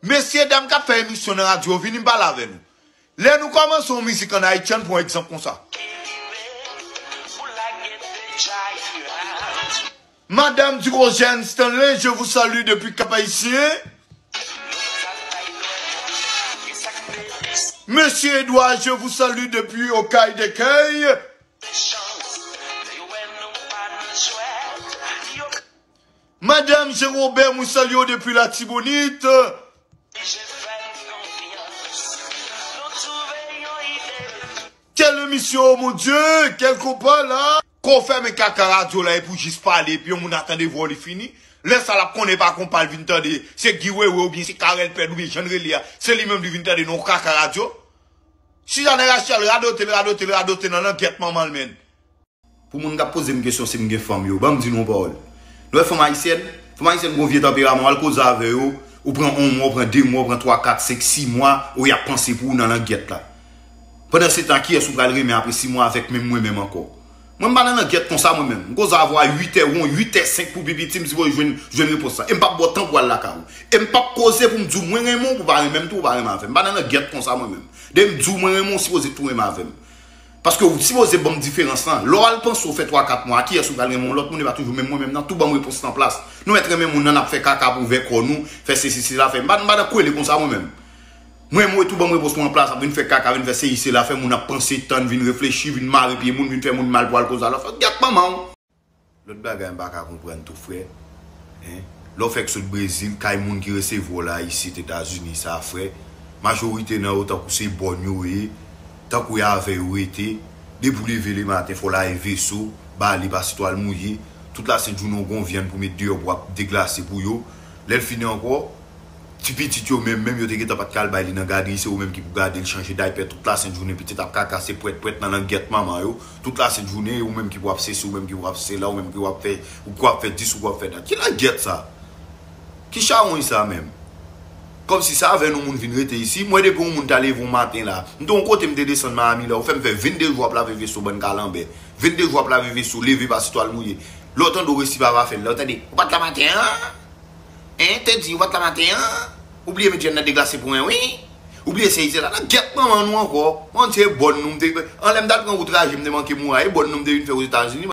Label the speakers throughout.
Speaker 1: Mesye dam kap fè emisyon nan radyo vini pale avè nou. Lè nou kòmanse yon mizik an Ayiti ann pran egzanp konsa. Madam Durogène Stanley je vous salue depi Kap Ayisyen. Mesye Edouard je vous salue depi Okay Dekèy. Madame Jean Robert mwen salye w depi latibonit. Quel emisyon oh mon Dieu quel konpa la. Kò fèmen kaka radyo la epou jis pale epi yon moun a tande vwa w li fini lè sa lap konnen epa konpa l vin tande se Guy wewe oubyen se Carel Pèd oubyen jan l rele a se li menm li vin tande nan yon kaka radyo Suzanne Rachel radote l radote l radote nan langèt manman l menn. Pou moun
Speaker 2: kap pozem kesyon sim gen fanm yo, banm di nou yon pawòl. Nou wè fanm ayisyèn, fanm ayisyèn gon vye tanperaman, wal koze avè yo, ou pran on mwa, ou pran 2 mwa, ou pran 3, 4, 5, 6 mwa, ou yap panse pou ou nan langyèt la. Pandan se tan kiyès ou pral renmen apre 6 mwa avèk menm mwen menm ankò. Mwen m pa nan langyèt konsa mwen menm. M koze avè w a 8 è won, 8 è 5 pou pi piti m sipoze jwenn jwenn repons la. Em pap baw tan pou al lakay ou. Em pap koze poum diw mwen renmen w pou pa renmenm tou ou pa renmen avèm. M pa nan langyèt konsa mwen menm. Dèyè m diw mwen renmen w sipoze tou renmen avèm. Paske ou sipoze banm diferans lan. Lè w al panse w fè 3 4 mwa a kiyès ou pral renmen yon lòt moun epa toujou menm mwen menm nan tou banm repons lan plas nou mèt renmen moun nan nap fè kaka pou vè kò nou fè sesi sela fè mpa mpa nan kwele konsa mwen menm mwen mwen tou banm repons mwen an plas ap vin fè kaka vin fè seyi sela fè moun ap panse tann vin reflechi vin mare pye moun vin fè moun mal pou al koz a lòt fanm gyèt manman w. Lòt bagay m pa ka konprann tou frè hein lè w fèk sot Brezil kay moun ki resevwa w la isit Etazini sa frè majorite nan yo tankou se bòn yo ye tankou y avè yo rete depi w leve le maten fò w lage veso ba li pase twal mouye tout la sent jounen w gon vyann pou met deyò pou ap deglase pou yo lè l fini ankò ti pitit yo menm menm yo te gentan pat ka al bay li nan gadri se yo menm ki pou gade l chanje daypè tout la sent jounen pitit ap kaka se pwèt pwèt nan langyèt manman yo. Tout la sent jounen e ou menm ki pou ap sesi ou menm ki pou ap sela ou menm ki pou ap fè ou pou ap fè dis ou pou ap fè dat ki langyèt sa? Ki chawony sa menm? Kòmsi sa avè nou moun vin rete isi mwen depi yon moun ta leve yon maten la m te yon kote m te desann Miami la ou fè m fè 22 jou ap lave veso bann kalanbè 22 jou ap lave veso leve pa si twal mouye lè w tande w resi pa va fè l lè w tande ou pat la maten an hein Teddy ou pat la maten an ou bliye met jèn nan deglase pou mwen wi Ou bliye se Ize la la? Gyèt manman nou ankò. An se bòn nou m te vin. An lè m t al pran wout raje m te manke moura e bòn nou m te vin fè Ozetazini.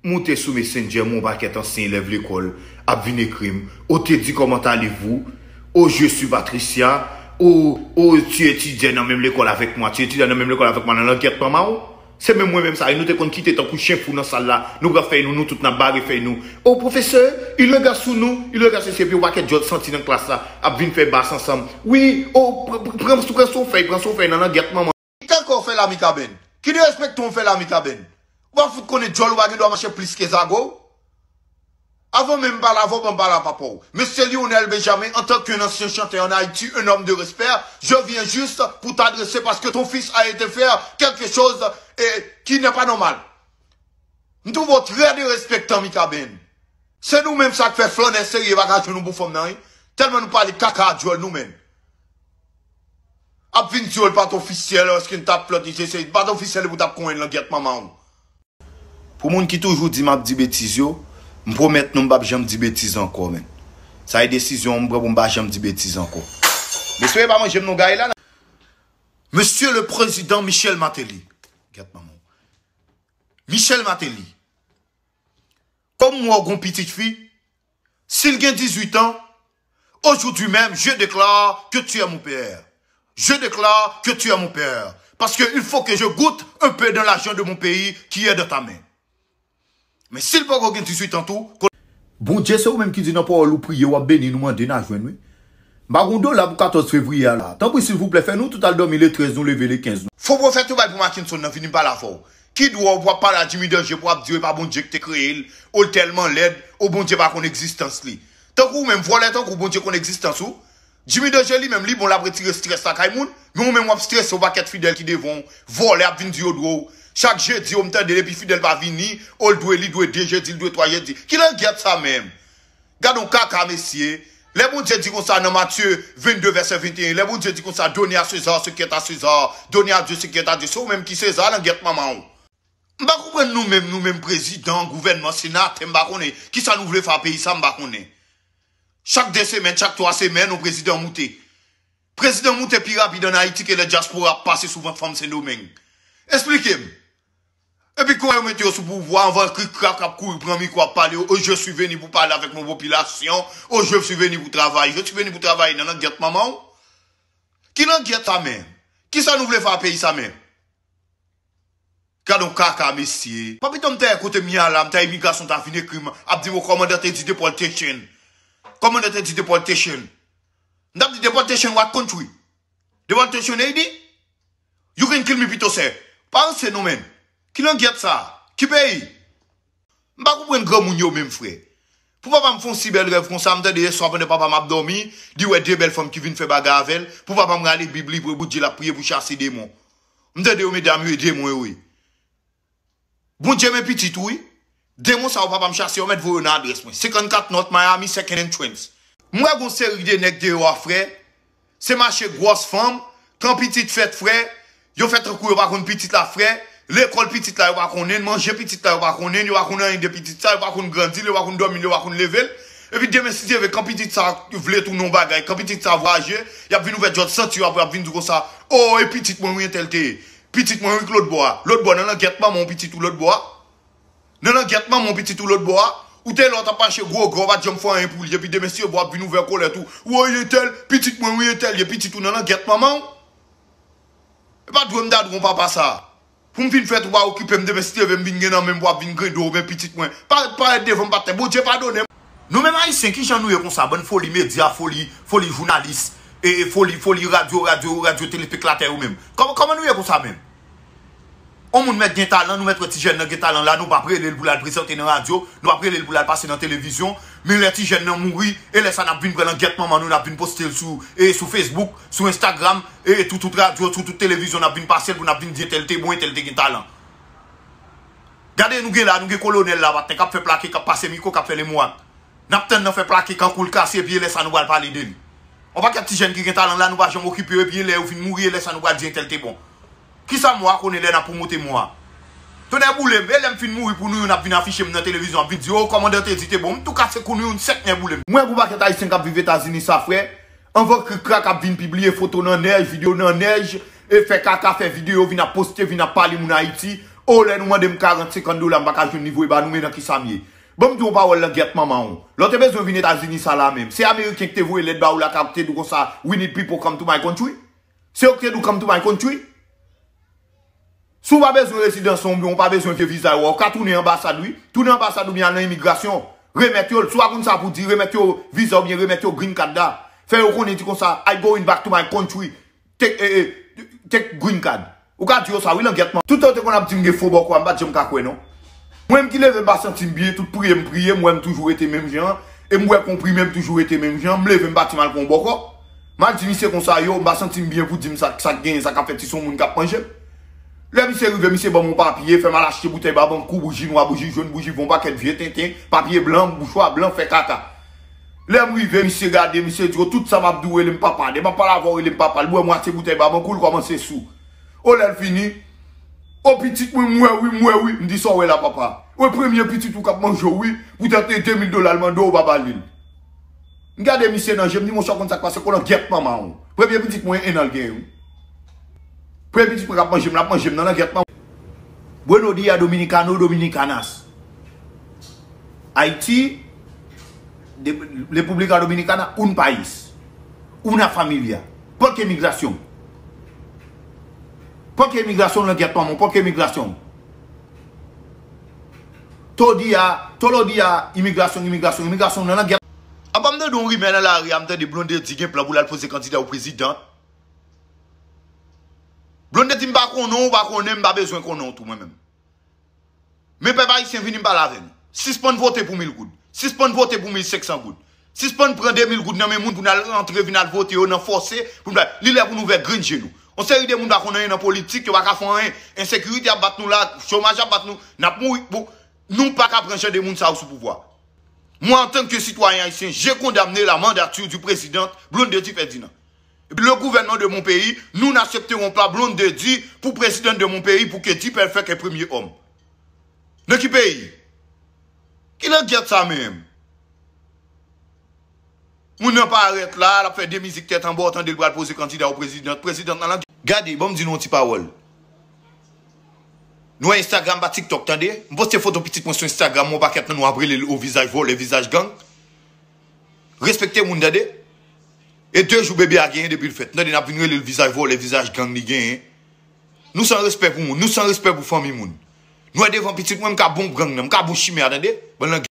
Speaker 2: Moute sou Messenger m wè yon pakèt ansyen elèv lekòl ap vin ekri m, O te di comment allez vous? O je suis Patricia O O tu etidiè nan menm lekòl avèk mwa? Tu etidiè nan menm lekòl avèk mwa nan lang gyèt manman w? Se menm mwen menm sa e nou te konn kite tankou chen fou nan sal la, nou pran fèy nou, nou tout nan bare fèy nou, oh pwofesè, il rega sou nou, il rega sesi epi yon pakèt djòl santi nan klas la ap vin fè bas ansanm, wi, oh pran pran son fèy, pran son fèy nan langyèt manman. Kite kò w fè lami
Speaker 1: kabenn, ki derespèkte w fè lami kabenn, ou pa fout konnen djòl ou pa gen dwa mache plis ke zago w. Avan menm pala vòb an pala papa w. Mesye Lionel Benjamin an tan qu'un ancien chanteur en Haïti un homme de respect je viens juste pour t'adresser parce que ton fils a été faire quelque chose et qui n'est pas normal m trouve w très derespektan Mikaben se nou menm sak fè flannè serye pa ka jwenn nou pou fanm nan wi tèlman nou pale kaka a dyòl nou menm ap vin di w l pat ofisyèl eske n tap flannte je se li t pat ofisyèl epi w tap konyen l langyèt manman w.
Speaker 2: Pou moun ki toujou di map di betiz yo, m pwomèt nou m pap janm di betiz ankò menn. Sa e desizyon m pran pou m pa janm di betiz ankò. M espere pa manjem nou gaye la nan. Mesye
Speaker 1: le prezidan Michel Martelly, gyèt manman w. Michel Martelly, kòm m wè w gen yon pitit fi, Sil gen 18 ans, aujourd'hui même je declare que tu es mon père. Je declare que tu es mon père. Parce que il faut que je goute un peu dans l'argent de mon pays qui est dans ta main. Men sil poko gen 18 ans tou, konnen. Bondye se ou
Speaker 2: menm ki di nan pawòl ou priye wap beni nou mande na jwenn wi m pa gon dola pou 14 fevriye a la tanpri silvouplè fè nou tout al dòmi le 13 nou leve le 15 nou Fo profèt yo bay pou
Speaker 1: Mackenson nan vini pale avèw Ki dwòl pou ap pale a Jimmy Danger pou ap di yo e pa Bondye ki te kreye l, o l tèlman lèd, o Bondye pa konn egzistans li. Tankou ou menm, vòlè tankou w Bondye konn egzistans ou? Jimmy Danger li menm li bon l ap retire strès lakay moun, men ou menm w ap strese yon pakèt fidèl ki devan w, vòlè ap vin di yo dwe w. Chak jedi o m tande depi fidèl pa vini, o l dwe li dwe 2 jedi li dwe 3 jedi. Ki langyèt sa menm? Gadon kaka mesye, lè Bondye di konsa nan Matye 22 vèsè 21 lè Bondye di konsa done a Sezar ce qui est à César done à Dieu ce qui est à Dieu se ou menm ki Sezar langyèt manman ou. M pa konprann nou menm nou menm prezidan, gouvènman, senatè m pa konnen kisa nou vle fè a peyi sa m pa konnen. Chak 2 semèn, chak 3 semèn yon prezidan moute. Prezidan moute pi rapid an Ayiti ke lè dyaspora ap pase sou vant fanm Sendomeng. Esplike m! Epi kouman yo mete yo sou pouvwa anvan kri krak kap kouri pran mikro ap pale yo oh je suis venu pou pale avek mon population oh je suis venu pou travay je suis venu pou travay nan langyèt manmanw ki langyèt sa menm kisa nou vle fè a peyi sa menm gadon kaka mesye. Papito m ta ye kote m ye a la m ta imigrasyon m ta vin ekri m ap di m o kòmandan te di deportation kòmandan te di deportation m tap di deportation what country? Deportation Haiti? You can kill me pito sè. Pa ranse non menn. Ki langyèt sa? Ki peyi? M pa konprann granmoun yo menm frè. Pou papa m fon si bèl rèv konsa, m tande yèswa pandan papa m ap dòmi, li wè de bèl fanm ki vin fè bagay avè l, pou papa m rale bib li pou l di l ap priye pou chase demon. M tande yo medam yo e demon yo ye. Bondye men pitit ou wi. Demon sa yo papa m chase yo met voye yo nan adrès mwen 54 North Miami second entrance. M wè gon seri de nèg deyò a frè, se mache gwòs fanm, tan pitit fèt frè, yo fè tankou yo pa konn pitit la frè, lekòl pitit la yo pa konnenl, manje pitit la yo pa konnenl, yo pa konn anyen de pitit sa, yo pa konn grandil, yo pa konn dòmil, yo pa konn level, epi demen si Dye vle kan pitit sa vle tounen yon bagay, kan pitit sa vwaje, yap vin ouvè djòl santi yo apre yap vin di konsa, oo e pitit mwen wi entèl te ye. Pitit mwen wi k lotbò a. Lotbò nan langyèt manman w pitit ou lotbò a. Nan langyèt manman w pitit ou lotbò a. Ou te la w t ap mache gwo gè w pa t janm fè anyen pou li epi demen si yo bo w ap vin ouvè kolèt ou. Woy entèl pitit mwen wi entèl ye pitit ou nan langyèt manman w. E pa dwe m dadou yon papa sa. Pou m fin fèt ou pa okipe m demen si t leve m vin gen nan menm pou w ap vin grede w men pitit mwen. Pa parèt devan m pa t tè. Bondye padone m. Nou menm ayisyen kijan nou ye konsa bann foli medya foli foli jounalis e foli foli radyo radyo radyo tele peklatè yo menm kòman nou ye konsa menm on moun mèt gen talan nou mèt wè ti jèn nan gen talan la nou pap relel poul al prezante nan radyo nou pap relel poul al pase nan televizyon men lè ti jèn nan mouri e lè sa nap vin pran langyèt manman nou nap vin postel sou e sou fesbouk sou enstagram e toutout radyo toutout televizyon nap vin pasel pou nap vin di entèl te bon entèl te gen talan. Gade nou gen la, nou gen kolonèl la maten kap fè plake, kap pase mikwo, kap fè lemwak. Nap tann nan fè plake kankou l kase epi elè sa nou pral pale de li. On pakèt ti jèn ki gen talan la nou pa janm okipe yo epi elè yo fin mouri elè sa nou pral di entèl te bon. Kisa mwa konnen lè nap pwomote mwa? Tonnè boule m, elè m fin mouri pou nou youn ap vin afiche m nan televizyon ap vin di oh kòmandan te di te bon, m tou kase kou nou youn sèk nè boule m. Mwen ak on pakèt ayisyen kap viv Etazini sa frè, Anvan krikrak ap vin pibliye foto nan nèj, video nan nèj, e fè kaka, fè video, vin ap poste, vin ap pale moun Ayiti, oh lè nou mande m 40, 50 dola m pa ka jwenn li voye ba nou men nan kisa m ye? Ban m di w yon pawòl langyèt manman w, lè w te bezwen vin Etazini sa la menm, se Ameriken ki te voye lèt ba ou lakay ou ki te di w konsa we need people come to my country? Se yo ki te di w come to my country? Si w pa bezwen rezidans lan oubyen w pa bezwen vye viza yo a, ou ka tounen anbasad wi. Tounen anbasad oubyen al nan imigrasyon, remèt yo l. Si w pa konn sa pou w di, remèt yo viza oubyen remèt yo green card la. Fè yo konnen di konsa, I going back to my country, take green card. Ou ka di yo sa wi langyèt man. Toutan yo te konn ap di m gen fo bòkò a, m pa t janm ka kwè non. Mwen menm ki leve m pa santi m byen, tout priye m priye, m wè m toujou rete menm jan, e m bwè konprime m toujou rete menm jan, m leve m pati m al pran yon bòkò. Ma di misye konsa yo, m pa santi m byen pou di m sa, sa k genyen, sa k ap fèt si se yon moun k ap manje m. Lè misye rive, misye ban m yon papye, fè m al achte boutèy babankou, bouji nwa, bouji jòn, bouji von, pakèt vye tenten, papye blan, mouchwa blan, fè kaka. Lè m rive, misye gade, misye di, o tout sa m ap di w rele m papa. Lè m ap pale avè w rele m papa. L bwè mwatye boutèy babankou, l kòmanse sou. O lè l fini, O pitit mwen, m wè wi, m wè wi. M di, sa w wè la papa? O e premye pitit ou k ap manje w wi, poutèt e 2000 dola l mande w ou pa ba li l. M gade misye nan je m di monchè w konn sa k pase kolan gyèt manman w. Premye pitit mwen 1 an l gen wi. Premye pitit mwen k ap manje m l ap manje m nan langyèt manman w. Bueno dia dominicano dominicanas Haiti República Dominicana un país una familia Pòk emigrasyon Pòk emigrasyon langyèt manman w Pòk emigrasyon w. Todi a, tolodi a, imigrasyon, imigrasyon, imigrasyon, nan langyèt. Apa m tande yon rimè nan lari a, m tande Blondedy gen plan pou l al poze kandida pou prezidan. Blondedy m pa konnen w, ou pa konnen m, m pa bezwen konnen w tou mwen menm. Men pèp ayisyen vini pale avè nou. Sispann vote pou mil goud. Sispann vote pou mil senksan goud. Sispann pran 2000 goud nan men moun pou nal rantre vin al vote yo nan fòse pou nou li lè pou nou ouvè grenn je nou yon seri de moun pa konn anyen nan politik yo paka fon anyen ensekirite ap bat nou la chomaj ap bat nou nap mouri pou nou paka pran jan de moun sa yo sou pouvwa mwen antann ke sitwayen ayisyen je kondamne la mandature du president blondedy ferdinand epi le gouvènman de mon peyi nou nasepteron pa blondedy pou president de mon peyi pou ke dipèlfèk e premye òm nan ki peyi ki langyèt sa menm. Moun nan parèt la, lap fè 2 mizik tèt anba, ou tande l pral poze kandida ou president, president nan lan. Gade, banm di nou yon ti pawòl. Nou wè Instagram pa TikTok tande. M poste foto pitit mwen sou Instagram mwen yon pakèt nan nou ap rele l o vizaj vòlè, vizaj gang. Respekte moun tande. E 2 jou bebe a genyen depi l fèt. Tande nap vin rele l vizaj vòlè, vizaj gang li genyen. Nou san respè pou moun, nou san respè pou fanmi moun. Nwè devan pitit mwen m ka bon gang nan m ka bon chimè a tande bann languet.